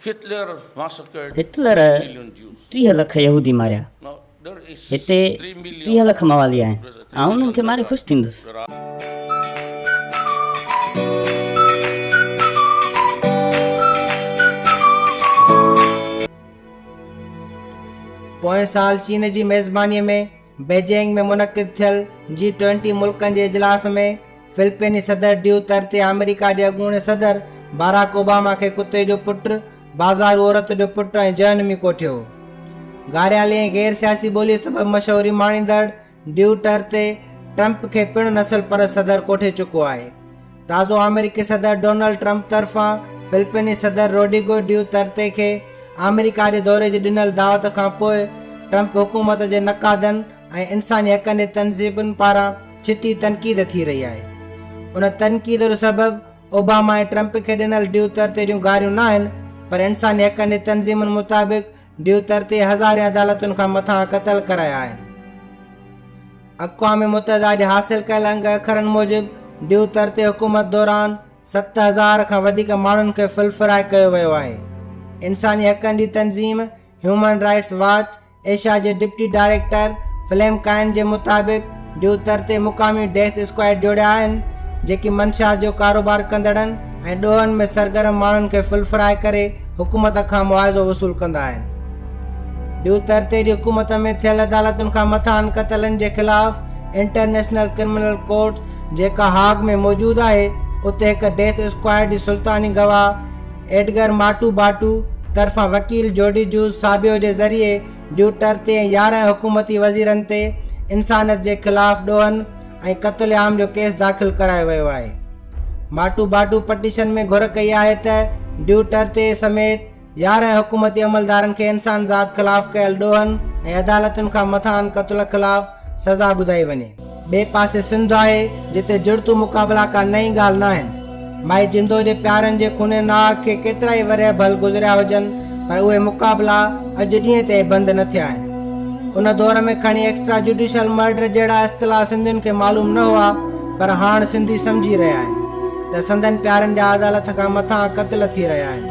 Hitler ٽيهه لک يهودي ماريا. هتي ٽيهه لک موالي آهن. آئون انهن کي ماري خوش ٿيندس. پوئين سال چين جي ميزبانيء ۾، بيجنگ ۾ منعقد ٿيل جي ٽوئنٽي ملڪن جي اجلاس ۾ فلپيني صدر ڊيو ترتي آمريڪا جي اڳوڻي صدر باراڪ اوباما کي ڪتي جو پٽ بازارو عورت جو پٽ ۽ جهنمي ڪوٺيو گاريالي ۽ غير سياسي ٻولي سبب مشهوري ماڻيندڙ ڊيو ٽرتي ٽرمپ کي پڻ نسل پرست صدر ڪوٺي چڪو آهي تازو آمريڪي صدر ڊونلڊ ٽرمپ طرفان فلپيني صدر روڊيگو ڊيو ترتي کي آمريڪا جي دوري جي ڏنل دعوت کانپوء ٽرمپ حڪومت جي نقادن ۽ انساني حقن جي تنظيبن پاران ڇتي تنقيد ٿي رهي آهي ان تنقيد جو سبب اوباما ۽ ٽرمپ کي ڏنل ڊيو ترتي جون گاريون ناهن پر انساني حقن جي تنظيمن مطابق ڊيوتر تي هزارين عدالتن کان مٿان قتل ڪرايا آهن. اقوام متحده جي حاصل ڪيل انگ اکرن موجب ڊيوتر تي حڪومت دوران ست هزار کان وڌيڪ ماڻهن کي فلفرائي ڪيو ويو آهي. انساني حقن جي تنظيم هيومن رائٽس واچ ايشيا جي ڊپٽي ڊائريڪٽر فليم ڪائن جي مطابق، جو تر تي مقامي ڊيٿ اسڪواڊ جوڙيا آهن، جيڪي منشيات جو ڪاروبار ڪندڙن ۽ ڏوهن ۾ سرگرم ماڻهن کي ڦل فرائي ڪري حڪومت کان معاوضو وصول ڪندا آهن. ڊيو تر تي جي حڪومت ۾ ٿيل عدالتن کان مٿانهن قتلن جي خلاف انٽرنيشنل ڪرمنل ڪورٽ جيڪا هاگ ۾ موجود آهي، اتي هڪ ڊيٿ اسڪواڊ جي سلطاني گواهه ايڊگر ماٽو باٽو طرفان وڪيل جوڊي جوز سابيو جي ذريعي ڊوٽر تي ۽ يارهن حڪومتي وزيرن تي انسانيت جي خلاف ڏوهن ۽ قتل عام جو ڪيس داخل ڪرايو ويو آهي ماٽو باٽو پٽيشن ۾ گهر ڪئي آهي ته ڊوٽر تي سميت يارهن حڪومتي عملدارن کي انسان ذات خلاف ڪيل ڏوهن ۽ عدالتن کان مٿانهن قتل خلاف سزا ٻڌائي وڃي ٻئي پاسي سنڌ آهي جتي جڙتو مقابلا ڪا نئين ڳالهه ناهن. مائي جندو جي پيارن جي خوني ناهه کي ڪيترائي ورهيه ڀل گذريا هجن پر اهي مقابلا اڄ ڏينهن تائين بند نه ٿيا آهن. ان دور ۾ کڻي ايڪسٽرا جوڊيشل مرڊر جهڙا اصطلاح سنڌين کي معلوم نه هئا پر هاڻ سنڌي سمجهي رهيا آهن ته سندن پيارن جا عدالت کان مٿان قتل ٿي رهيا آهن.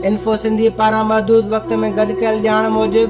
انفو سنڌي پاران محدود وقت ۾ گڏ ڪيل ڄاڻ موجب،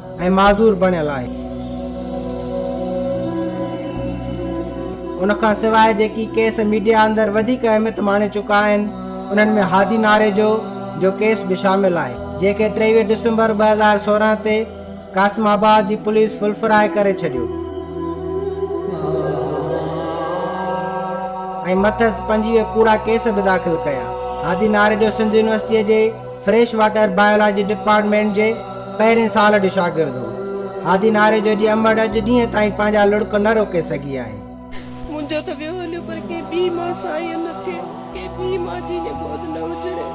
۽ معذور بڻيل آهي. ان کان سواء جيڪي ڪيس ميڊيا اندر وڌيڪ اهميت ماڻي چڪا آهن، انهن ۾ هادي ناريجو جو ڪيس به شامل آهي، جنهن کي ٽيويهه ڊسمبر ٻه هزار سورهن تي قاسم آباد جي پوليس ڦلڦراء ڪري ڇڏيو ۽ مٿس پنجويهه ڪوڙا ڪيس به داخل ڪيا. هادي ناريجو سنڌ يونيورسٽيء جي فريش واٽر بايولاجي ڊپارٽمينٽ جي پهرين سال جو شاگرد هو. هادي ناري جو جي امڙ اڄ ڏينهن تائين پنهنجا لڙڪ نه روڪي سگهي آهي. منهنجو ته ويو هليو پر ڪنهن ٻي مان ساهيء نه ٿئي. ڪنهن ٻي مان جيء جي گود نه هجڻي.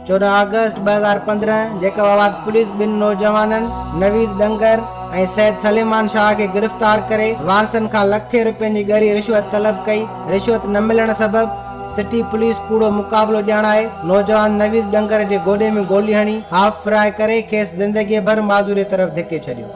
چوڏهن آگسٽ ٻه هزار پندرهن جيڪب آباد پوليس ٻن نوجوانن نويد ڏنگر ۽ سيد سليمان شاهه کي گرفتار ڪري وارثن کان لکين روپين جي ڳري رشوت طلب ڪئي، رشوت نه ملڻ سبب سٽي پوليس ڪوڙو مقابلو ڄاڻائي نوجوان نويد ڏنگر جي گوڏي ۾ گولي هڻي هاف فراء ڪري کيس زندگي ڀر معذوري طرف ڌڪي ڇڏيو.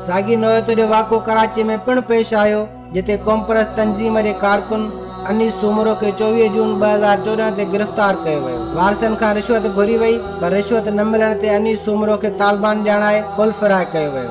ساڳي نوعيت جو واقعو ڪراچي ۾ پڻ پيش آيو جتي قومپرست تنظيم جي ڪارڪن انيس سومرو کي چوويهه جون ٻه هزار چوڏهن تي گرفتار ڪيو ويو وارثن کان رشوت گهري وئي پر رشوت نه ملڻ تي انيس سومرو کي طالبان ڄاڻائي فل فراء ڪيو ويو.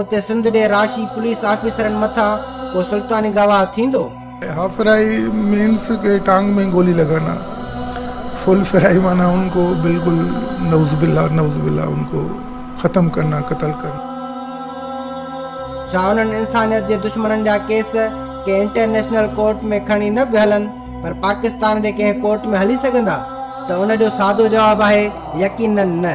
اتي سنڌ ڏي راشي پوليس آفيسرن مٿان ڪو سلطاني گواهه ٿيندو؟ هافرائي مينس ڪي ٽانگ مين گولي لگانا فل فرائي معنيٰ ان ڪو بلڪل نعوذ بالله نعوذ بالله ان ڪو ختم ڪرنا قتل ڪرنا. ڇا انهن انسانيت جي دشمنن جا ڪيس ڪنهن انٽرنيشنل ڪورٽ ۾ کڻي نه به هلن پر پاڪستان جي ڪنهن ڪورٽ ۾ هلي سگهندا ته ان جو سادو جواب آهي يقينن نه.